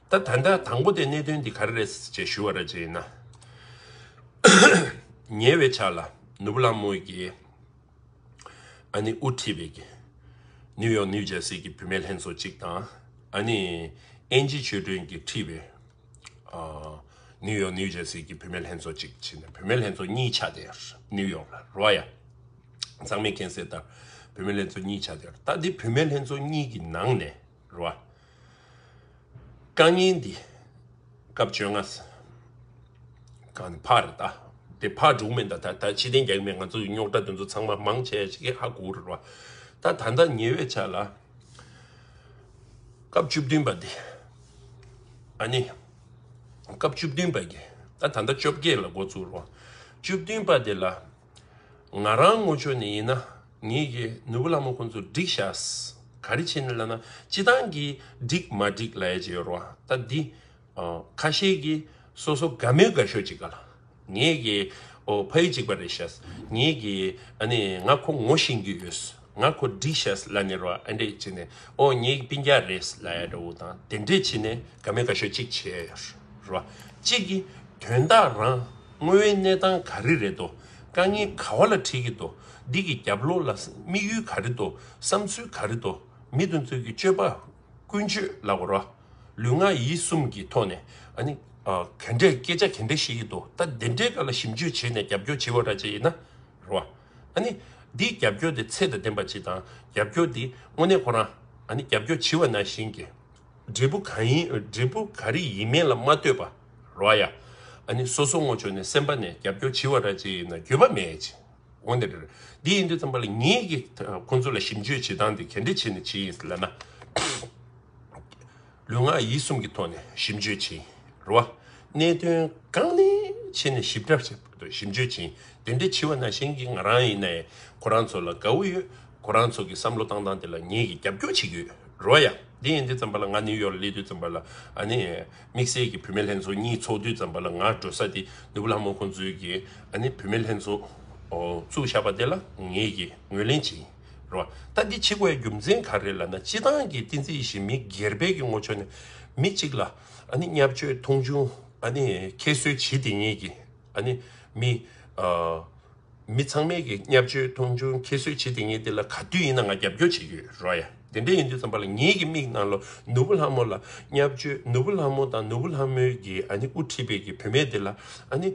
ད་ད་ལྟ་དང་པོ་དེ་གནད་དོན་འདི་ག་རེ་རེད་ཅེས་ཞུ་བ་རེད་ཅེ་ན། ཉེ་བའི་ཆར་ལ་ནུ་བོ་ལང་མོ་གིས་ཨ་ནི་དབུ་ཁྲིད་པའི་ནིའུ་ཡོག་ནིའུ་ཇར་སི་གི་བུད་མེད་ལྷན་ཚོགས་གཅིག་དང་ཨ་ནི་ཨེན་ཇི་ཆོས་སྒྲོན་གྱིས་ཁྲིད་པའི་ནིའུ་ཡོག་ནིའུ་ཇར་སི་གི་བུད་མེད་ལྷན་ཚོགས་གཅིག་བྱས་ནས་བུད་མེད་ལྷན་ཚོགས་གཉིས་ཆགས་ཏེ་ནིའུ་ཡོག་ལ་རོ་ཡ་གཙང་མས་མཁྱེན་གསལ་ལྟར་བུད་མེད་ལྷན་ཚོགས་གཉིས་ཆགས་ཏེ་ད་འདི་བུད་མེད་ལྷན་ཚོགས་གཉིས་ཀྱི་ནང་ནས། རུ་བ། རྐང་གཉིས་འདི། སྐབས་བཅོ་ལྔ། གང་ནས་ཕག་རེད་ད། དེ་ཕག་དྲུག་མེད་ད། ད་ཕྱི་གཏན་རྒྱག་མེད་ང་ཚོ་ཡི་རྙོག་དྲ་དེ་ཚོ་ཚང་མ་མང་ཆེ་ཆེ་གེ་ཧ་གོ་རུ་བ། ད་ད་ལྟ་ཉེ་བའི་ཆ་ལ། སྐབས་བཅུ་བདུན་པ་འདི། ཨ་ནི། སྐབས་བཅུ་བདུན་པ་གི། ད་ད་ལྟ་བཅོ་བརྒྱད་ལ་འགོ་བཙུགས་རུ་བ། བཅུ་བདུན་པ་དེ་ལ། ང་རང་སྔོ་ཆོས་ནས་ཡིན་ན་ངེད་ཀྱི་ནུ་བོ་ལྷ་མོ་ཁོང་ཚོ་བསྒྲིགས་ཤགས། ག་རེ་བྱེད་ནས་ལབ་ན་སྤྱི་སྟངས་ཀྱིས་བསྒྲིགས་མ་བསྒྲིགས་ལ་ཡ་བྱེད་ཡོད་རོ། ད་འདི་ཁ་ཤས་ཀྱིས་སོ་སོ་དགའ་མོས་དགའ་ཤོས་ཅིག་ག་ལ། ངེད་ཀྱི་ཕ་ཡུལ་གཅིག་པ་རེད་ཤགས། ངེད་ཀྱི་ཨ་ནི་ང་ཁོ་ངོ་ཤེས་རྒྱུ་ཡོད། ང་ཁོ་བསྒྲིགས་ཤགས་ལ་ནི་རོ་ཨ་འདྲས་བྱེད་ནས་ཨོ་ངེད་ཀྱི་པིང་རྒྱ་རེད་ལ་ཡ་འདྲ་བོ་དང་དེ་འདྲས་བྱེད་ནས་དགའ་མོས་དགའ་ཤོས་ཅིག་བྱེད་ཡོད་རོ། གཅིག་གིས་དོན་དག་རང་དངོས་ཡོད་གནས་སྟངས་ག་རེ་རེད་དོ། དཀའ་ངལ་ག་བ་ལ་འཕྲད་ཀྱི་དོ། འདི་གི་རྒྱབ་ལོགས་ལ་དམིགས་ཡུལ་ག་རེ་དོ། བསམ་ཚུལ་ག་རེ་དོ། མི་དོན་ཚུལ་གྱི་སྤྱོད་པ། ཀུན་སྤྱོད་ལ་བར་བ། ལུས་ངག་ཡིད་གསུམ་གྱི་ཐོག་ནས། ག་འདྲའི་སྐད་ཆ་ག་འདྲ་ཤེས་ཀྱི་དོ། ད་འདི་འདྲའི་སྐད་ལ་ཞིབ་འཇུག་བྱས་ནས་རྒྱབ་སྐྱོར་བྱེད་བ་འདྲ་བྱས་ཡིན་ན། རེད་བ། འདིའི་རྒྱབ་སྐྱོར་དེ་ཚད་དང་ལྡན་པ་ཅིག་དང། རྒྱབ་སྐྱོར་དེ་དངོས་གནས་ཁོ་རང། རྒྱབ་སྐྱོར་བྱེད་བ་ནང་བཞིན་གྱི། འབྲས་བུ་ག་རེ་ཡིན་མིན་ལ་མ་ལྟོས་པ། རོ་ཡ། ཨ་ནི་སོ་སོ་ངོ་ཆོད་ནས་སེམས་པ་ནས་རྒྱབ་སྐྱོར་བྱི་བ་ར་ཅི་ཡིན་ན་རྒྱུས་པ་མེད་ཅི། འོན་ཏེ་རེད། འདི་ཡིན་དུས་ཙམ་པ་ལ་ངེད་ཀྱིས་ཁོང་ཚོ་ལ་ཞིབ་འཇུས་བྱེད་སྟངས་དེ་གལ་འགྲིག་བྱེད་ནི་ཅི་ཡིན་ཟེར་ན། ལུས་ངག་ཡིད་གསུམ་གྱི་ཐོག་ནས་ཞིབ་འཇུས་བྱིན། རོ་ཨ། གནད་དོན་གང་ནས་ཕྱེ་ནས་ཞིབ་ཕྲ་ཞིབ་འཇུས་བྱིན་དེ་འདྲའི་བྱི་བ་ན་གཞན་གྱི་ང་རང་ཡིན་ནའི་ཁོ་རང་ཚོ་ལ་དགའ་བོ་ཡོད། ཁོ་རང་ཚོ་གྱི་བསམ་བློ་བཏང་སྟངས་དེ་ལ་ངེད་ཀྱིས་རྒྱབ་སྐྱོར་བྱེད་ཀྱི་ཡོད། རོ་ཡ། འདི་ཡིན་དུས་ཙམ་པ་ལ་ང་ནིའུ་ཡོག་ལ་སླེབས་དུས་ཙམ་པ་ལ་ཨ་ནི། དམིགས་བསལ་གྱི་བུད་མེད་ལྷན་ཚོགས་གཉིས་ཚོགས་དུས་བརྩམས་པ་ལ་ང་འགྲོ་ས་དེ་ནུ་བུ་ལྷ་མོ་ཁོང་ཚོའི་གི་ཨ་ནི་བུད་མེད་ལྷན་ཚོགས་བཙུགས་བཞག་པ་དེ་ལ་ངེད་ཀྱིས་ངོས་ལེན་བྱེད་ཀྱིན་རོ། ད་འདི་ཕྱི་གོའི་རྒྱུ་མཚན་ག་རེ་ལ་ན་སྤྱི་བཏང་གི་ཏིང་འཛིན་བཞི་མི་སྒེར་བེད་ཀྱི་ངོ་ཆོ་ནས་མི་གཅིག་ལ་ཨ་ནི་བསྙབ་བཅོས་མཐོང་ཆུང་ཨ་ནི་ཁྱད་གསོད་བྱེད་དེ་ངེད་ཀྱིས། ཨ་ནི། མི། མི་ཚང་མས་ཀྱི་བསྙབ་བཅོས་མཐོང་ཆུང་ཁྱད་གསོད་བྱེད་དེ་ངས་འདི་ལ་ག་དུས་ཡིན་ན་ང་རྒྱབ་སྐྱོར་བྱེད་ཀྱི་རོ་ཡ། དེ་འདྲ་ཡིན་དུས་ཙམ་པ་ལ་ངེད་ཀྱི་མིག་ནང་ལོ་ནུ་བོ་ལྷ་མོ་ལ་བསྙབ་བཅོས་ནུ་བོ་ལྷ་མོ་དང་ནུ་བོ་ལྷ་མོའི་གྱི་ཨ་ནི་དབུ་ཁྲིད་པའི་གྱི་བུད་མེད་དེ་ལ་ཨ་ནི།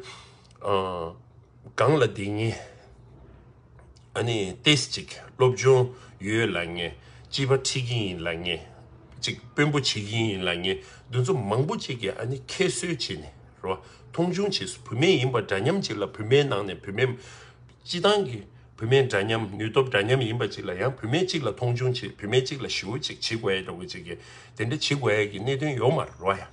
གང་ལ་དེ་ངས། ཨ་ནི་ཏེས་ཅིག་སློབ་སྦྱོང་ཡོད་ལ་ངས་སྤྱི་བ་ཁྲིད་ཀྱིན་ཡིན་ལ་ངས་ཅིག་དཔོན་པོ་བྱེད་ཀྱིན་ཡིན་ལ་ངས་འདུ་འཛོམས་མང་པོ་བྱེད་ཀྱིན་ཨ་ནི་ཁྱད་གསོད་བྱེད་ནས་རེད་བ་མཐོང་ཆུང་བྱེད་སུ་བུད་མེད་ཡིན་པ་འདྲ་མཉམ་ཅིག་ལ་བུད་མེད་ནང་ནས་བུད་མེད་སྤྱི་བཏང་གི་བུད་མེད་འདྲ་མཉམ་ནུས་སྟོབས་འདྲ་མཉམ་ཡིན་པ་ཅིག་ལ་ཡང་བུད་མེད་ཅིག་ལ་མཐོང་ཆུང་བྱེད་བུད་མེད་ཅིག་ལ་ཞི་བོ་ཅིག་བྱེད་དགོས་ཡ་རེད་བ་ཅིག་གིས་དེ་འདྲ་བྱེད་དགོས་ཡ་གི་གནད་དོན་ཡོད་མ་རེད་བ་ཡ།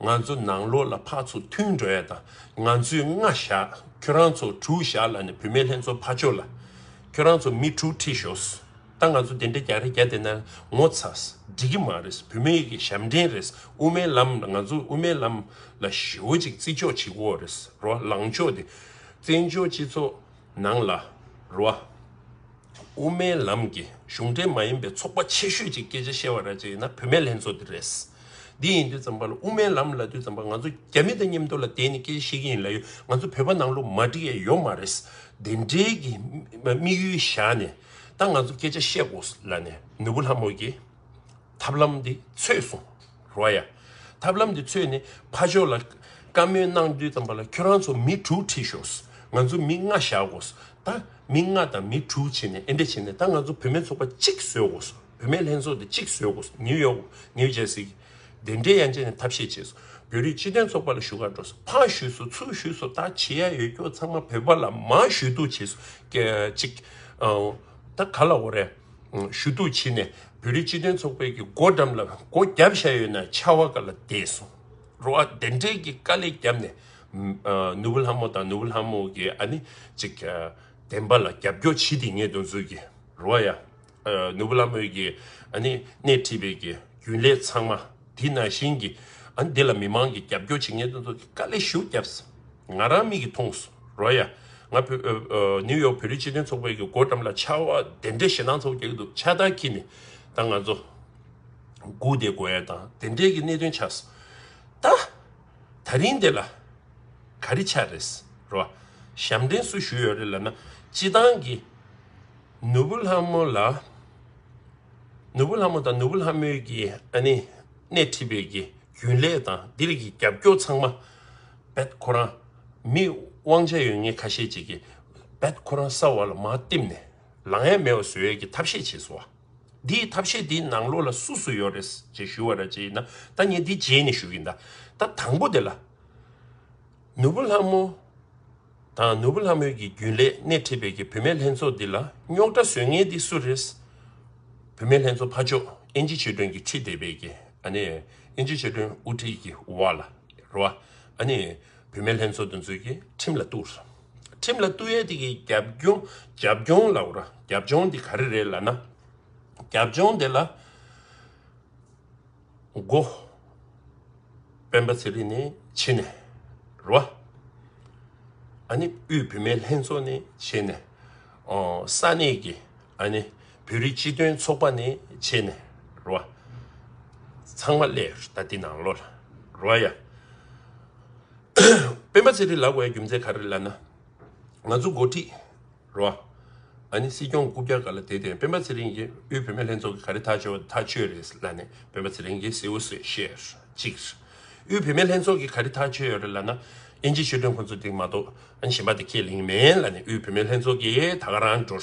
ང་ཚོ་ནང་ལོག་ལ་ཕག་ཚོ་མཐུན་འགྲོ་ཡ་དང་ང་ཚོས་ལྔ་བཞག་ཁྱོད་རང་ཚོ་དྲུག་བཞག་ལ་ནི་བུད་མེད་ལྷན་ཚོགས་ཕར་བཅོ་ལ་ཁྱོད་རང་ཚོ་མི་དྲུག་ཁྲིད་ཤོག་ཟ་ད་ང་ཚོ་དེ་འདྲ་རྒྱག་རེ་རྒྱག་དེ་ན་ངོ་ཚ་འགྲིག་གི་མ་རེད་བུད་མེད་ཀྱི་ཞབས་འདྲེན་རེད་དབུ་མའི་ལམ་ང་ཚོ་དབུ་མའི་ལམ་ལ་ཞོ་ཅིག་བརྩི་འཇོག་བྱེད་དགོས་རེད་རོ་ལངས་ཕྱོགས་དེ་བཙན་བྱོལ་སྤྱི་ཚོགས། ནང་ལ་རུ་བ། དབུ་མའི་ལམ་གྱི་གཞུང་འབྲེལ་མ་ཡིན་པའི་ཚོགས་པ་ཆེ་ཤོས་ཀྱི་སྐད་ཆ་བཤད་བ་ར་ཅི་ཡིན་ན་བུད་མེད་ལྷན་ཚོགས་འདི་རེད། འདི་ཡིན་དུས་ཙམ་པ་ལ་དབུ་མའི་ལམ་ལ་དུས་ཙམ་པ་ང་ཚོ་རྒྱ་མི་དང་མཉམ་དུ་ལ་བསྡད་ནས་སྐད་ཆ་བཤད་ཀྱི་ཡིན་ལ་ཡོད་ང་ཚོ་བོད་པ་ནང་ལོ་མ་འགྲིག་ཡ་ཡོད་མ་རེད། དེ་འདྲའི་གི་དམིགས་ཡུལ་བཞག་ནས་ད་ང་ཚོ་སྐད་ཆ་བཤད་དགོས་ལ་ནས་ནུ་བོ་ལྷ་མོ་ཀྱི། ཐབས་ལམ་འདི་འཚོལ་གསུངས། རོ་ཡ། ཐབས་ལམ་འདི་འཚོལ་ནས་ཕ་ཇོ་ལ། བཀའ་མོལ་གནང་དུས་དམ་པ་ལ་ཁྱོད་རང་ཚོ་མི་དྲུག་ཁྲིད་ཤོགས། ང་ཚོ་མི་ལྔ་བཞག་དགོས། ད་མི་ལྔ་དང་མི་དྲུག་བྱས་ནས་ཨེ་འདྲ་བྱས་ནས་ད་ང་ཚོ་བུད་མེད་ཚོགས་པ་གཅིག་བཟོས་དགོས། བུད་མེད་ལྷན་ཚོགས་འདི་གཅིག་བཟོས་དགོས། ནིའུ་ཡོག New Jersey གི། དེ་འདྲའི་ཡ་མཆན་ནས་ཐབས་ཤེས་བྱས། བོད་རིགས་སྤྱི་དོན་ཚོགས་པ་ལ་ཞུ་ཁ་འགྲོ། ཕ་ཞུས་སོ་ཚུར་ཞུས་སོ་ད་བྱེད་ཡ་ཡོད་ཁྱོད་ཚང་མ་བོད་པ་ལ་མ་ཞུས་གཏུགས་བྱས། ཅིག། ད་ག་ལ་འོ་རེད། ཞུ་གཏུག་བྱས་ནས་བོད་རིགས་སྤྱི་མཐུན་ཚོགས་པའི་གི་སྒོ་འགྲམ་ལ་སྒོ་བརྒྱབ་བཞག་ཡོད་ན་ཆར་བ་ག་ལ་བདེ་སོང་རོ་ཨ་བདེན་བྲལ་གྱི་དཀའ་ལས་བརྒྱབ་ནས་ནུ་བོ་ལྷ་མོ་དང་ནུ་བོ་ལྷ་མོ་གི་ཨ་ནི་ཅིག་བདེན་པ་ལ་རྒྱབ་སྐྱོར་བྱེད་དེ་ངས་དུ་འཛུལ་གི་རོ་ཨ་ཡ་ནུ་བོ་ལྷ་མོ་གི་ཨ་ནི་སྣེ་ཁྲིད་པའི་གི་རྒྱུན་ལས་ཚང་མ། དེས་ན་གཞན་གྱིས་འདི་ལ་མི་མང་གིས་རྒྱབ་སྐྱོར་བྱེད་མཁན་དེ་ཚོ་གིས་དཀའ་ལས་ཞུ་རྒྱབ་ས་ང་རང་མིག་གིས་མཐོང་སོང་རོ་ཡ། ང་བོད New York བོད་རིགས་སྤྱི་མཐུན་ཚོགས་པའི་གི་སྒོ་འགྲམ་ལ་ཆར་བ་དེ་འདྲས་ཞེ་སྡང་ཚོར་བ་རྒྱག་གི་འདུག་ཆར་དར་ཁྱི་ནས་ད་ང་ཚོ་སྒུག་དེ་དགོས་ཡ་དང་དེ་འདྲས་གི་གནད་དོན་ཆགས་སོང་ད། ད་རིང་དེ་ལ་ག་རི་ཆགས་རེད་ས་རོ་ཡ། ཞབས་འདྲེན་སུ་ཞུ་ཡོད་རེད་ལབ་ན་སྤྱི་བཏང་གི་ནུ་བོ་ལྷ་མོ་ལ། ནོར་བུ་ལྷ་མོ་དང་ནོར་བུ་ལྷ་མོའི་གྱི་ཨ་ནེ་སྣེ་ཁྲིད་པའི་གྱི་རྒྱུན་ལས་དང་དེ་རིགས་ཀྱི་རྒྱབ་སྐྱོར་ཚང་མ་རྦད་ཁོ་རང་མི་དབང་ཆ་ཡོད་ངེས་ཁ་ཤས་ཅིག་གིས་རྦད་ཁོ་རང་ས་བ་ལ་མ་བསྟིམས་ནས་ལང་ཡ་མེ་བ་བཟོ་ཡ་གྱི་ཐབས་ཤེས་བྱེད་སོང་བ། འདིའི་ཐབས་ཤེས་འདི་ནང་ལོག་ལ་སུ་སུ་ཡོད་རེད་ཅེས་ཞུ་བ་ར་ཅེས་ཡིན་ན་ད་ངས་འདི་རྗེས་ནས་ཞུ་གི་འདའ་ད་དང་པོ་དེ་ལ། ནོར་བུ་ལྷ་མོ། དང་ནོར་བུ་ལྷ་མོའི་གྱི་རྒྱུན་ལས་སྣེ་ཁྲིད་པའི་གྱི་བུད་མེད་ལྷན་ཚོགས་འདི་ལ་རྙོག་དྲ་བཟོས་ངེས་འདི་སུ་རེད། བུད་མེད་ལྷན་ཚོགས་ཕ་ཅོག་ཨེན་ཇི་ཆོས་སྒྲོན་གྱི་ཁྲིད་དེ་བས་གྱི་ཨ་ནི་ཨེན་ཇི་ཆོས་སྒྲོན་དབུ་ཁྲིད་གྱི་བ་ལ་རོ་ཨ་ནི་བུད་མེད་ལྷན་ཚོགས་འདི་ཚོས་གྱི་ཁྲིམས་ལ་གཏུགས། ཁྲིམས་ལ་གཏུགས་ཡས་དེ་གྱི་རྒྱབ་རྒྱོང་རྒྱབ་རྒྱོང་ལ་རོ་རྒྱབ་རྒྱོང་འདི་ག་རེ་རེད་ལ་ན་རྒྱབ་རྒྱོང་འདི་ལ། མགོ། སྤེན་པ་ཚེ་རིང་ནི་ཕྱི་ནས་རུ། ཨ་ནི་དབུས་བུད་མེད་ལྷན་ཚོགས་ནི་ཕྱི་ནས་འོ། ས་གནས་ཀྱི་ཨ་ནི་བོད་རིགས་སྤྱི་མཐུན་ཚོགས་པ་ནི་ཕྱི་ནས་རུ། ཚང་མ་ཀླད་ལྟ་འདི་ནང་ལོ་ལ་རུ་ཡ། སྤེན་པ་ཚེ་རིང་ལགས་བའི་རྒྱུ་མཚན་ག་རེ་ལ་ན། ང་ཚོ་མགོ་ཁྲིད་རོ། ཨ་ནི་སྲིད་སྐྱོང་སྐུ་བསྐྱར་ག་ལ་དེ་བརྟེན་སྤེན་པ་ཚེ་རིང་གིས་དབུས་བོད་མི་ལྷན་ཚོགས་ཀྱི་ག་རེ་ཐག་གཅོད་པ་དེ་ཐག་གཅོད་རེད་ཟེར་ལ་ནི་སྤེན་པ་ཚེ་རིང་གིས་གསལ་བོ་ཟེར་ཤེས་གཅིག། དབུས་བོད་མི་ལྷན་ཚོགས་ཀྱི་ག་རེ་ཐག་གཅོད་ཡོད་རེད་ལ་ན་དབྱིན་ཇི་ཤོད་དོན་ཁོ་ཚོ་དེ་མ་གཏོགས་ཨ་ནི་གཞན་པ་དེ་ཁས་ལེན་གི་མེད་ལ་ནི་དབུས་བོད་མི་ལྷན་ཚོགས་ཀྱིས་ད་ག་རང་འགྲོ།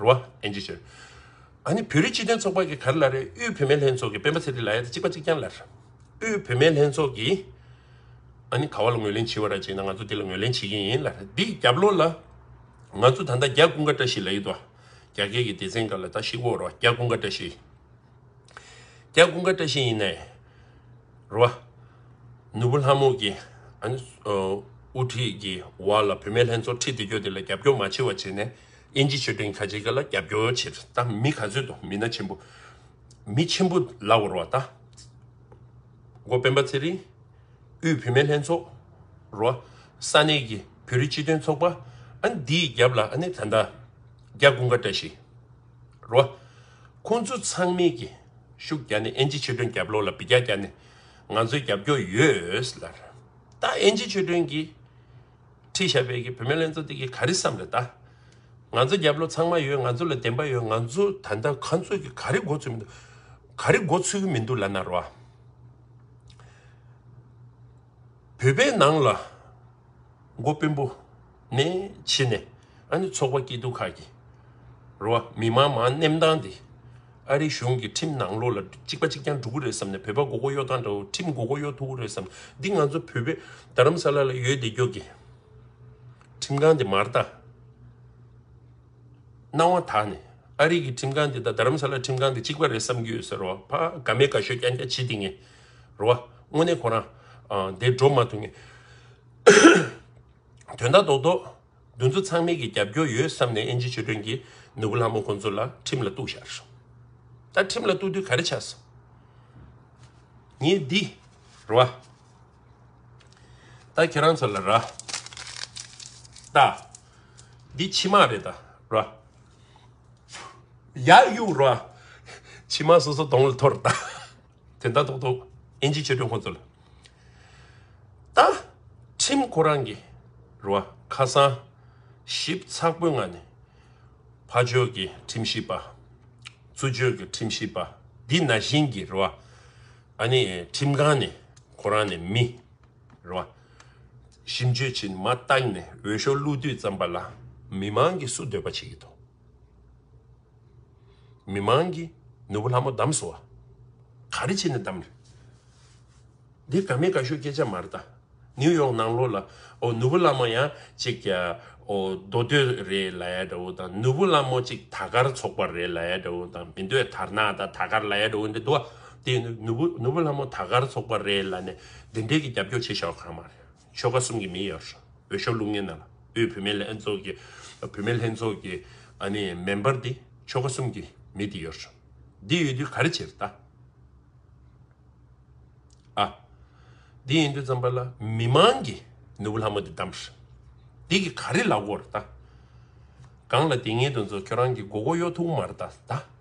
རོ། ཨན་ཇི་ཤོད། ཨ་ནི་བོད་རིགས་སྤྱི་མཐུན་ཚོགས་པ་གི་ག་རེ་ལ་རེད་དབུས་བོད་མི་ལྷན་ཚོགས་ཀྱིས་སྤེན་པ་ཚེ་རིང་ལ་ཡ་ད་གཅིག་པ་གཅིག་རྐྱང་ལ། དབུས་བུད་མེད་ལྷན་ཚོགས་ཀྱིས་ཨ་ནི་ག་བ་ལ་ངོས་ལེན་བྱེད་པ་ར་བྱེད་ན་ང་ཚོ་དེ་ལ་ངོས་ལེན་བྱེད་ཀྱིན་ཡིན་ལ་འདིའི་རྒྱབ་ལོགས་ལ་ང་ཚོ་ད་ལྟ་རྒྱ་ཀུན་དགའ་བཀྲ་ཤིས་ལ་ཡོད་དོ། རྒྱ་སྐད་ཀྱི་སྡེ་ཚན་འགའ་ལ་ད་ཤི་བོ་རོ་རྒྱ་ཀུན་དགའ་བཀྲ་ཤིས། རྒྱ་ཀུན་དགའ་བཀྲ་ཤིས་ཡིན་ནའི་རོ། ནུ་བོ་ལྷ་མོ་གིས་ཨ་ནི་དབུ་ཁྲིད་ཀྱི་བ་ལ་བུད་མེད་ལྷན་ཚོགས་ཁྲིད་དེ་སྐྱོ་དེ་ལ་རྒྱབ་སྐྱོར་མ་བྱེད་བ་བྱེད་ནས་དབྱིན་ཇི་ཆོས་སྒྲིང་ཁ་ཆེ་ག་ལ་རྒྱབ་སྐྱོར་བྱེད་ད་མི་ག་ཚོད་དོ་མི་སྣ་ཆེན་པོ་མི་ཆེན་པོ་ལ་བོར་བ་དང། འགོ་སྤེན་པ་ཚེ་རིང། དབུས་བུད་མེད་ལྷན་ཚོགས། རོ། ས་གནས་ཀྱི་བོད་རིགས་སྤྱི་དོན་ཚོགས་པ། ཨན། འདིའི་རྒྱབ་ལ་ཨ་ནེ་ད་མདའ། རྒྱ་དགུན་ཀ་བཀྲ་ཤིས། རོ། ཁོང་ཚོ་ཚང་མས་ཀྱི་ཤུགས་བརྒྱ་ནས་ཨན་ཇི་ཆོས་སྒྲོན་རྒྱབ་ལོག་ལ་བི་རྒྱ་རྒྱ་ནས་ང་ཚོའི་རྒྱབ་སྐྱོར་ཡོད། ལར། ད་ཨན་ཇི་ཆོས་སྒྲོན་གྱིས། ཁྲི་ཞབས་པའི་གི་བུད་མེད་ལན་ཚོ་དེ་གི་ག་རི་བསམ་རེད་ད། ང་ཚོ་རྒྱབ་ལོ་ཚང་མ་ཡོད་ང་ཚོ་ལ་བདེན་པ་ཡོད་ང་ཚོ་ད་ལྟ་ག་ཚོད་གི་ག་རི་འགོ་ཚུལ་མི་འདུག་ག་རི་འགོ་ཚུལ་གི་མི་འདུག་ལ་ན་རོ་ཨ། བོད་པའི་ནང་ལ་འགོ་དཔོན་པོ་ནས་ཕྱི་ནས་ཨ་ནི་ཚོགས་པ་སྐྱིད་སྡུག་ཁག་གི་རོ་ཨ་མི་དམངས་མང་གནས་མདང་དེ། ཨ་རི་གཞུང་གིས་ཁྲིམས་ནང་ལོགས་ལ་གཅིག་པ་གཅིག་རྐྱང་འགྲོ་གི་རེད་བསམ་ནས་བོད་པ་མགོ་སྐོར་གཡོག་དང་འདྲ་བོ་ཁྲིམས་མགོ་སྐོར་གཡོག་ཐུབ་གི་རེད་བསམ་འདི་ང་ཚོ་བོད་པའི་རྡ་རམ་ས་ལ་ལ་ཡོད་བདེ་སྐྱོ་གི། ཁྲིམས་ཁང་དེ་མར་དང། སྣང་བ་དག་ནས་ཨ་རི་གི་ཁྲིམས་ཁང་དེ་དང་རྡ་རམ་ས་ལ་ཁྲིམས་ཁང་དེ་གཅིག་པ་རེད་བསམ་གི་ཡོད་ཟེར་བ་ཕ་ག་མེད་ག་ཤོད་རྐྱང་རྐྱང་བྱེད་དེ་ངེས་རེད་བ་དངོས་གནས་ཁོ་རང་དེ་འགྲོ་མ་ཐུབ་ངེས་དོན་དག་རྡོག་རྡོག། འདུ་འཛོ་ཚང་མིག་གི་རྒྱབ་སྐྱོར་ཡོད་བསམ་ནས་ཨེན་ཇི་ཆོས་སྒྲོན་གྱི་ནུ་བོ་ལྷ་མོ་ཁོ་ཚོ་ལ་ཁྲིམས་ལ་གཏུགས་ཤར། ད་ཁྲིམས་ལ་གཏུགས་དུས་ག་རེ་ཆགས་སམ། ངའི་འདི་ར། ད་ཁྱེད་རང་ཚོ་ལ་ར། ད། འདི་ཕྱི་མ་རེད་ད་ར། ཡ་གཡུག་ར། ཕྱི་མ་སོ་སོ་དོང་ལ་འཐོར་ད། དེ་ལྟ་ཐོག་ཐོག་ཨིན་ཇི་ཆོས་སྒྲོན་ཁོང་ཚོ་ལ་ལྟ། ཁྲིམས་ཁོ་རང་གི་རུ་བ་ཁ་གསང་ཞིབ་ཚགས་པོའི་ངང་ནས་ཕ་ཆོས་ཀྱི་ཁྲིམས་ཞིབ་པ། བཙུན་ཆོས་ཀྱི་ཁྲིམས་ཞིབ་པ་འདི་ན་བཞིན་གྱི་རུ་བ་ཨ་ནི་ཁྲིམས་ཁང་ནས་ཁོ་རང་ནས་མི་རུ་བ་ཞིབ་འཇུག་བྱེད་མ་བཏང་ནས་འོས་ཤོག་བླུགས་དུས་ཙམ་པ་ལ་མི་མང་གིས་སུ་འདོད་པ་བྱེད་ཀྱི་འདུག། མི་མང་གིས་ནོར་བུ་ལྷ་མོ་བདམས་སོ། ག་རེ་བྱས་ནས་བདམས། འདི་ག་མེད་ག་ཤོད་སྐད་ཆ་མ་རེད་ད། ནིའུ་ཡོག་ནང་ལོགས་ལ་ཨོ་ནོར་བུ་ལྷ་མོ་ཡང་ཅིག་ཀྱ་ཨོ་མདོ་སྟོད་རེད་ལ་ཡ་འདྲ་བོ་དང་ནོར་བུ་ལྷ་མོ་ཅིག་ད་གར་ཚོགས་པ་རེད་ལ་ཡ་འདྲ་བོ་དང་མི་འདོད་དར་ནག་དང་ད་གར་ལ་ཡ་འདྲ་བོ་འདི་འདུག་ཨ་དེ་ནོར་བུ་ལྷ་མོ་ད་གར་ཚོགས་པ་རེད་ལ་ནས་འདི་འདྲས་ཀྱི་རྒྱབ་སྐྱོར་བྱེད་ཤག་གང་མ་རེད། ཆོལ་ཁ་གསུམ་གྱི་མི་ཡོད་རེད། འོས་ཤོག་ལུགས་ངན་ནང་ལ་དབུས་བུད་མེད་ལྷན་ཚོགས་ཀྱི་བུད་མེད་ལྷན་ཚོགས་ཀྱི་མེ་འབར་དེ་ཆོལ་ཁ་གསུམ་གྱི་མི་དེ་ཡོད་རེད། འདི་ཡོད་དུས་ག་རེ་བྱེད་རེད་ད། ཨ། འདི་ཡིན་དུས་ཙམ་པ་ལ་མི་མང་གིས་ནུ་བོ་ལྷ་མོ་དེ་བདམས་རེད། འདི་གི་ག་རེ་ལ་གོ་རེད་ད། གང་ལ་དེ་ངེད་དུ་འཛོ་ཁྱོད་རང་གི་མགོ་གོ་གཡོ་ཐུག་མ་རེད་ད།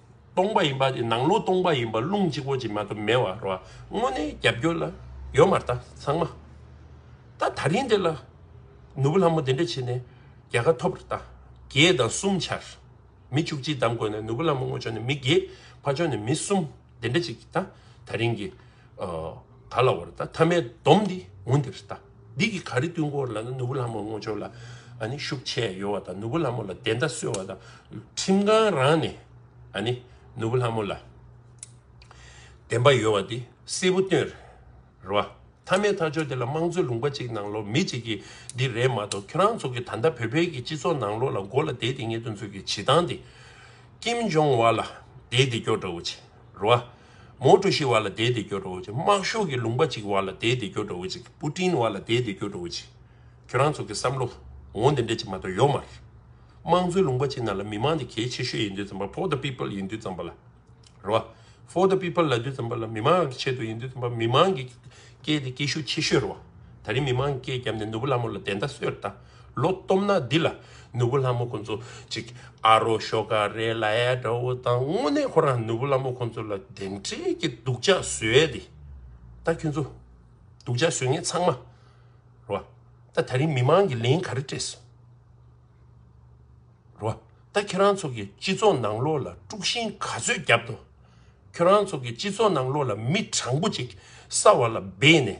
སྟོང་པ་ཡིན་པ་དེ་ནང་ལོག་སྟོང་པ་ཡིན་པ་རླུང་གཅིག་པོ་གཅིག་མ་གཏོགས་མེད་བར་རོ། དངོས་གནས་རྒྱབ་སྐྱོར་ལ་ཡོད་མ་རྟ་ཚང་མ། ད་ད་རིང་འདི་ལ་ནོར་བུ་ལྷ་མོ་དེ་འདྲ་བྱས་ནས་རྒྱལ་ཁ་ཐོབ་ར་ད། བརྒྱད་དང་གསུམ་ཆར་མི་བཅུ་གཅིག་བདམས་དགོས་ན་ནོར་བུ་ལྷ་མོ་སྔོ་ཕྱོགས་ནས་མི་བརྒྱད་ཕ་ཕྱོགས་ནས་མི་གསུམ་དེ་འདྲ་གཅིག་ད་ད་རིང་གི་ག་ལ་བ་ར་ད་མཐའ་མའི་བསྡོམས་འདི་ངུ་འདི་ར་ད། འདི་གི་ག་རེ་བསྟུན་སྐོར་ལ་ནི་ནོར་བུ་ལྷ་མོ་སྔོ་སྦྱོར་ལ་ནི་ཤུགས་ཆེ་ཡོད་བ་དང་ནོར་བུ་ལྷ་མོ་ལ་བདེན་མཐའ་གསོལ་བ་དང་ཁྲིམས་ཁང་རང་ནས་ནི་ནོར་བུ་ལྷ་མོ་ལ་བདེན་པ་ཡོད་བ་འདི་གསལ་པོ་སྟོན་རེད་བ། མཐའ་མའི་ཐག་གཅོད་དེ་ལ་དམངས་གཙོའི་ལུང་པ་གཅིག་ནང་ལོག་མི་གཅིག་གི་འདི་རེད་མ་གཏོགས་ཁྱོད་རང་ཚོ་གི་ད་ལྟ་བོད་བལ་གྱི་སྤྱི་ཚོགས་ནང་ལོག་ལ་མགོ་ལ་དེད་དེ་ངེད་དོན་ཚོ་གི་བྱེད་སྟངས་དེ་ཀིམ་ཇོང་ཝ་ལ་དེད་དེ་སྐྱོ་དྲ་བོ་བྱེད། རོ། མོ་གྲུ་ཞིག་བ་ལ་དེའི་དེ་སྐྱོ་བྲོ་བོ་ཅིག་དམག་ཤོག་གི་ལུང་པ་ཅིག་བ་ལ་དེའི་དེ་སྐྱོ་བྲོ་བོ་ཅིག་པུ་ཏིན་བ་ལ་དེའི་དེ་སྐྱོ་བྲོ་བོ་ཅིག་ཁྱོད་རང་ཚོ་གི་བསམ་བློ་འོང་དེ་འདྲས་ཅིག་མ་གཏོགས་ཡོག་མ་རེད། དམངས་གཙོའི་ལུང་པ་ཅིག་ན་ལ་མི་དམངས་དེ་གལ་ཆེ་ཤོས་ཡིན་དུས་ཙམ་པ for the people ཡིན་དུས་ཙམ་པ་ལ་རོ། for the people ལ་དུས་ཙམ་པ་ལ་མི་དམངས་ཀྱི་ཆེད་དུ་ཡིན་དུས་ཙམ་པ་མི་དམངས་ཀྱི་སྐད་དེ་སྐད་ཤུགས་ཆེ་ཤོས་རོ། ད་རིང་མི་དམངས་ཀྱི་སྐད་བརྒྱབ་ནས་ནུ་བོ་ལ་མོ་ལ་དེ་འདྲ་གསོད་ད། ལོ་སྟོབས་ན་འདི་ལ་ནུ་བོ་ལྷ་མོ་ཁོང་ཚོ་ཅིག་ཨ་རོ་ཤོ་ཀ་རེད་ལ་ཨེ་དགྲ་བོ་དང་དངོས་གནས་ཁོ་རང་ནུ་བོ་ལྷ་མོ་ཁོང་ཚོ་ལ་དེ་འདྲའི་གི་སྡུག་ཅག་བཟོས་ཏེ་ད་ཁྱོད་ཚོ་སྡུག་ཅག་བཟོས་ངེས་ཚང་མ་རོ་ད་ད་རིང་མི་མང་གི་ལན་ག་རེ་སྤྲད་སོང་རོ། ད་ཁྱེད་རང་ཚོ་གི་སྤྱི་ཚོགས་ནང་ལོག་ལ་དཀྲུག་ཤིང་ག་ཚོད་རྒྱབ་འདུག་ཁྱོད་རང་ཚོ་གི་སྤྱི་ཚོགས་ནང་ལོག་ལ་མི་དྲང་པོ་ཅིག་ས་བ་ལ་སྦས་ནས་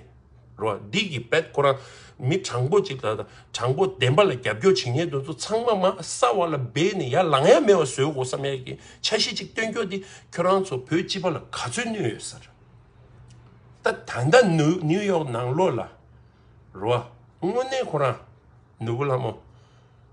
རོ་འདི་གི་བེད་ཁོ་རང་མི་དྲང་པོ་ཅིག་ལ་དྲང་པོ་བདེན་པ་ལ་རྒྱབ་སྐྱོར་བྱེད་ཉེས་དོན་ཚོ་ཚང་མ་མ་ས་བ་ལ་སྦས་ནས་ཡར་ལངས་ཡ་མེད་བ་བཟོས་དགོ་བསམ་ཡ་གི་འཆར་གཞི་ཅིག་སྟོན་ཁྱོ་འདི་ཁྱོད་རང་ཚོ་བོད་སྤྱི་པ་ལ་ག་ཚོད་གནོད་ཡོད་ས་རེད་ད་ད་ལྟ་ནིའུ་ཡོག་ནང་ལོག་ལ་རོ་དངོས་གནས་ཁོ་རང་ནུ་བོ་ལྷ་མོ།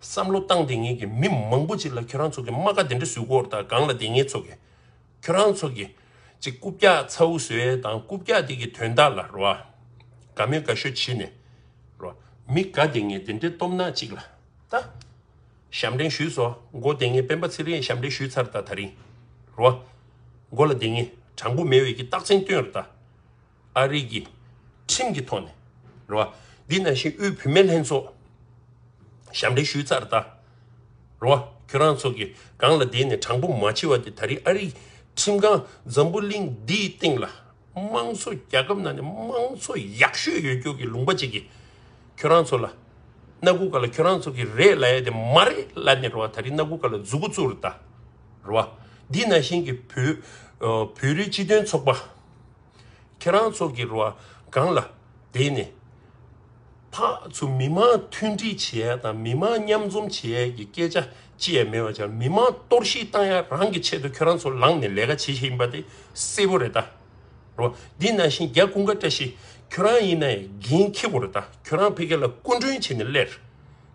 བསམ་བློ་བཏང་དེ་ངེད་ཀྱི་མི་མང་པོ་ཅིག་ལ་ཁྱོད་རང་ཚོ་གི་རྨ་ཁ་དེ་འདྲ་བཟོས་སྐོར་དང་གང་ལ་དེ་ངེད་ཚོ་གི་ཁྱོད་རང་ཚོ་གི་ཅིག་རྐུབ་བཀྱག་ཚ་བོ་བཟོས་དང་རྐུབ་བཀྱག་དེ་གི་དོན་དག་ལ་རོ་དགའ་མོས་དགའ་ཤོས་བྱེད་ནས་རོ་མི་དགའ་དེ་ངེད་དེ་འདྲའི་སྟོབས་ནག་ཅིག་ལ་ད་ཞབས་འདྲེན་ཞུས་སོ་མགོ་དེ་ངེད་སྤེན་པ་ཚེ་རིང་ཞབས་འདྲེན་ཞུས་ཚར་ད་ད་རིང་རོ་མགོ་ལ་དེ་ངེད་དྲང་པོ་མེད་འོས་ཀྱི་རྟགས་མཚན་སྟོན་རོ་ད། ཨ་རིག་གི་ཁྲིམས་ཀྱི་ཐོག་ནས་རེད་བ། འདི་ནང་བཞིན་དབུས་བུད་མེད་ལྷན་ཚོགས་ཞབས་འདྲེན་ཞུས་ཚར་ད་རེད་བ། ཁྱོད་རང་ཚོ་གི་སྒང་ལ་བསྡད་ནས་དྲང་པོ་མ་བྱེད་བ་དེ་ད་རེས་ཨ་རིག་ཁྲིམས་ཁང་འཛམ་བུ་གླིང་འདིའི་སྟེང་ལ་དམངས་གཙོ་རྒྱ་ཁབ་ནང་ནས་དམངས་གཙོ་ཡག་ཤོས་ཡོད་རྒྱུ་གི་ལུང་པ་བྱེད་གི་ཁྱོད་རང་ཚོ་ལ་སྣ་དགུ་ག་ལ་ཁྱོད་རང་ཚོ་གི་རེད་ལ་ཡ་དེ་མ་རེད་ལ་ནི་རེད་བ་ད་རེས་སྣ་དགུ་ག་ལ་འཛུགས་གོ་ཚུགས་རེད་ད་རེད་བ། འདི་ནང་བཞིན་གི་བོད་རིགས་སྤྱི་མཐུན་ཚོགས་པ། ཁྱེད་རང་ཚོ་གི་རུ་བ་སྒང་ལ་བསྡད་ནས། ཕག་ཚོ་མི་མང་མཐུན་སྒྲིལ་བྱེད་ཡ་དང་མི་མང་མཉམ་འཛོམས་བྱེད་ཡ་གི་སྐད་ཆ་ཅི་ཡ་མེད་པ་ཆགས་མི་མང་གཏོར་བཤིག་བཏང་ཡ་རང་གི་ཆེད་དུ་ཁྱོད་རང་ཚོ་ལངས་ནས་ལས་ཀ་བྱེད་བཞིན་ཡིན་པ་དེ་གསལ་བོ་རེད་ད། རུ་བ་འདི་ནང་བཞིན་རྒྱ་ཀུན་དགའ་བཀྲ་ཤིས་ཁྱོད་རང་ཡིན་ན་ཡང་འགན་འཁྱེར་དགོས་རེད་ད་ཁྱོད་རང་ཕེ་ཁེ་ལ་སྐུ་མགྲོན་བྱས་ནས་སླེར།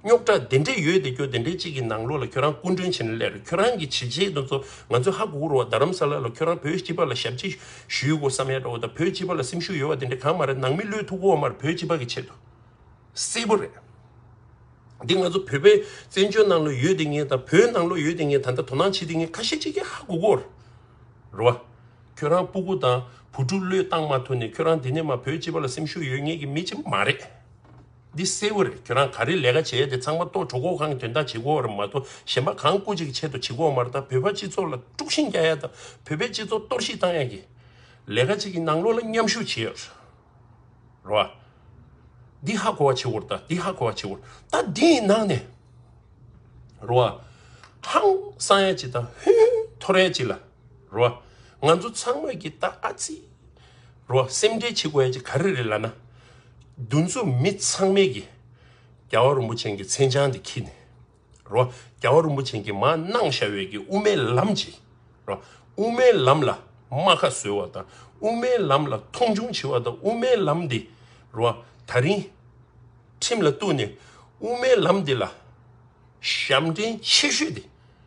རྙོག་དྲ་དེ་འདྲས་ཡོད་དེ་ཁྱོད་དེ་འདྲས་ཅིག་གི་ནང་ལོགས་ལ་ཁྱོད་རང་སྐུ་མགྲོན་བྱེད་ན་ལེགས་རེད་ཁྱོད་རང་གི་བྱས་རྗེས་དེ་ཚོ་ང་ཚོས་ཧ་གོ་གི་རོ་རྡ་རམ་ས་ལ་ལ་ཁྱོད་རང་བོད་སྤྱི་པ་ལ་ཞབས་ཕྱི་ཞུས་གོ་བསམ་ཡ་འདྲ་འོ་ད་བོད་སྤྱི་པ་ལ་སེམས་ཤུགས་ཡོད་བ་དེ་འདྲས་གང་མ་རེད་ནང་མི་བློས་ཐུག་གོ་བ་མ་རེད་བོད་སྤྱི་པ་གི་ཆེད་དུ་གསལ་པོ་རེད་འདི་ང་ཚོ་བོད་པའི་བཙན་བྱོལ་ནང་ལོགས་ཡོད་དེ་ངས་དང་བོད་ནང་ལོགས་ཡོད་དེ་ངས་ད་ལྟ་དོ་སྣང་བྱེད་དེ་ངས་ཁ་ཤས་ཅིག་གིས་ཧ་གོ་གོ་རོ་ཨ་ཁྱོད་རང་སྤུ་གུ་དང་བུ་ཕྲུག་བློས་བཏང་མ་ཐུག་ནས་ཁྱོད་རང་དེ་ནས་མ་བོད་སྤྱི་པ་ལ་སེམས་ཤུགས་ཡོད་ངེས་ཀྱི་མི་ཅིག་མ་རེད། འདི་གསལ་བོ་རེད་ཁྱོད་རང་ག་རེ་ལས་ཀ་བྱས་ཏེ་ཚང་མ་གཏོགས་གྲོགས་འགོག་ཁང་དོན་དག་བྱེད་དགོས་བ་རེད་མ་གཏོགས་གཞན་པ་གང་སྐུ་གཅིག་གི་ཆེད་དུ་བྱེད་དགོས་བ་མ་རེད་ད་བོད་པ་སྤྱི་ཚོགས་ལ་དཀྲུག་ཤིང་རྒྱག་ཡ་དང་བོད་པའི་སྤྱི་ཚོགས་གཏོར་བཤིག་བཏང་ཡ་གི་ལས་ཀ་གཅིག་གི་ནང་ལོགས་ལ་མཉམ་ཞུགས་བྱེད་ཡ་རོ་ཨ། འདི་ཧ་གོ་བ་བྱེད་དགོས་རེད་ད་འདི་ཧ་གོ་བ་བྱེད་དགོས་རེད་ད་འདི་ཡི་ནང་ནས་རོ་ཨ། ཧང་སང་ཡ་གཅིག་དང་ཧུན་ཧུན་འཐོར་ཡ་གཅིག་ལ་རོ་ཨ། ང་ཚོ་ཚང་མ་གི་ད་ཨ་ཙི། རོ། སེམས་ཁྲལ་བྱེད་དགོས་ཡ་གཅིག་ག་རེ་རེད་ལ་ན། རྒྱུ་མཚོ་མི་ཚང་མས་ཀྱི། རྒྱལ་བ་རིན་པོ་ཆེན་གྱི་མཚན་བྱང་འདི་འཁྱིལ་ནས། རོ། རྒྱལ་བ་རིན་པོ་ཆེན་གྱི་མ་གནང་བྱ་བའི་ཀྱི་དབུ་མའི་ལམ་གྱི། རོ། དབུ་མའི་ལམ་ལ་རྨ་ཁ་བཟོས་བ་དང་དབུ་མའི་ལམ་ལ་མཐོང་ཆུང་བྱེད་བ་དང་དབུ་མའི་ལམ་འདི། རོ། ད་རིང། ཁྲིམས་ལ་གཏུགས་ནས་དབུ་མའི་ལམ་འདི་ལ། ཞབས་འདྲེན་ཆེ་ཤོས་དེ།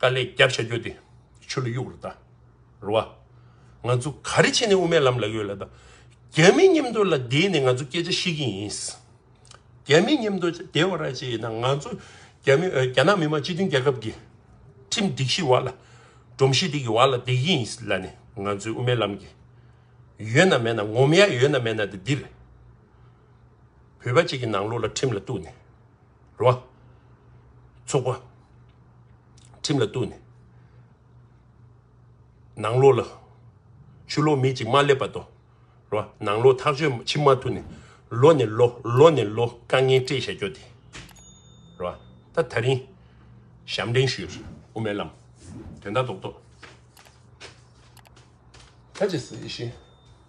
དཀའ་ལས་རྒྱབ་བྱ་རྒྱུ་དེ་ཆུ་ལ་གཡུག་རུ་བལྟ་རུ་བ། ང་ཚོ་ག་རེ་བྱས་ནས་དབུ་མའི་ལམ་ལ་ཡོད་ལ་དང། རྒྱ་མི་མཉམ་དུ་ལ་བསྡད་ནས་ང་ཚོ་སྐད་ཆ་བཤད་ཀྱིན་ཡིན། རྒྱ་མི་མཉམ་དུ་བསྡད་བ་ར་བྱས་ཡིན་ན་ང་ཚོ་རྒྱ་མི་རྒྱ་ནག་མི་དམངས་སྤྱི་མཐུན་རྒྱལ་ཁབ་ཀྱི་ཁྲིམས་སྒྲིག་གཞི་བར་ལ་སྒྲོམ་གཞི་དེ་གི་བར་ལ་བསྡད་ཀྱིན་ཡིན་ལ་ནི་ང་ཚོའི་དབུ་མའི་ལམ་གྱི་ཡོད་ན་མེད་ན་ངོམ་ཡ་ཡོད་ན་མེད་ན་དེ་འདིར་བོད་པ་གཅིག་གི་ནང་ལོག་ལ་ཁྲིམས་ལ་གཏུགས་ནས། རོ། ཚོགས་པ། ཁྲིམས་ལ་གཏུགས་ནས། ནང་ལོགས་ལ། ཆུ་ལོག་མི་གཅིག་མ་སླེབས་པ་དང། རོ། ནང་ལོགས་ཐག་གཅོད་ཕྱི་མ་ཐུག་ནས། ལོ་ནས་ལོ། ལོ་ནས་ལོ། དཀའ་ངལ་སྤྲད་བཞག་རྒྱོ་དེ། རོ། ད་ད་རིང། ཞབས་འདྲེན་ཞུས། དབུ་མའི་ལམ། དོན་དག་རྡོག་རྡོག། ཁ་ཅིག་ཟེར་བཞིན།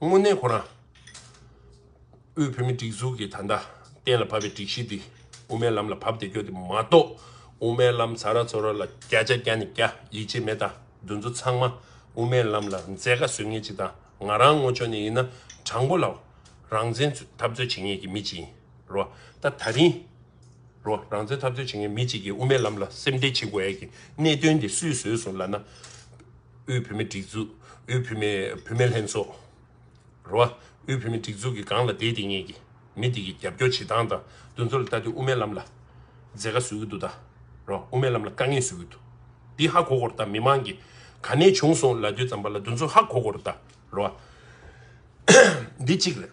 དངོས་གནས་ཁོ་ན། དབུས་བོད་མིའི་སྒྲིག་འཛུགས་ཀྱིས་ད་ལྟ་གཏན་ལ་ཕབ་པའི་སྒྲིག་གཞི་འདི་དབུ་མའི་ལམ་ལ་བབ་སྟེ་སྐྱོ་དེ་མ་གཏོགས་དབུ་མའི་ལམ་ཟ་ར་འཚོ་ར་ལ་བརྒྱ་ཆ་བརྒྱ་ནས་བརྒྱ་ཡིད་ཆེས་མེད་དང་འདུ་འཛོ་ཚང་མ་དབུ་མའི་ལམ་ལ་མཛད་དཀའ་བཟོས་ངེས་ཅིག་དང་ང་རང་ངོ་ཆོ་ནས་ཡིན་ན་དྲང་པོ་ལ་རང་བཙན་འཐབ་རྩོད་བྱེད་ངེས་ཀྱི་མི་ཅིག་ཡིན། རོ། ད་ད་རིང། རོ། རང་བཙན་འཐབ་རྩོད་བྱེད་མཁན་མི་གཅིག་གིས་དབུ་མའི་ལམ་ལ་སེམས་ཁྲལ་བྱེད་དགོས་ཡས་ཀྱི་གནད་དོན་འདི་སུས་བཟོས་སོང་ལ་ན། དབུས་བུད་མེད་སྒྲིག་འཛུགས། དབུས་བུད་མེད་བུད་མེད་ལྷན་ཚོགས། རོ། དབུས་བུད་མེད་སྒྲིག་འཛུགས་ཀྱི་སྒང་ལ་བསྡད་དེ་ངེད་ཀྱི་མི་འདི་གི་རྒྱབ་སྐྱོར་བྱེད་སྟངས་དང་འདུ་འཛོ་ལ་ལྟ་དུས་དབུ་མའི་ལམ་ལ་མཛད་དཀའ་བཟོས་ཀྱི་འདུག་ད། རོ། དབུ་མའི་ལམ་ལ་དཀའ་ངལ་བཟོས་ཀྱི་འདུག་འདི་ཧ་གོ་གོ་རོ་ད་མི་མང་གི་ག་ནས་བྱུང་སོང་ལ་དུས་ཙམ་པ་ལ་འདུ་འཛོ་ཧ་གོ་གོ་རོ་ད། རོ། འདི་གཅིག་རེད།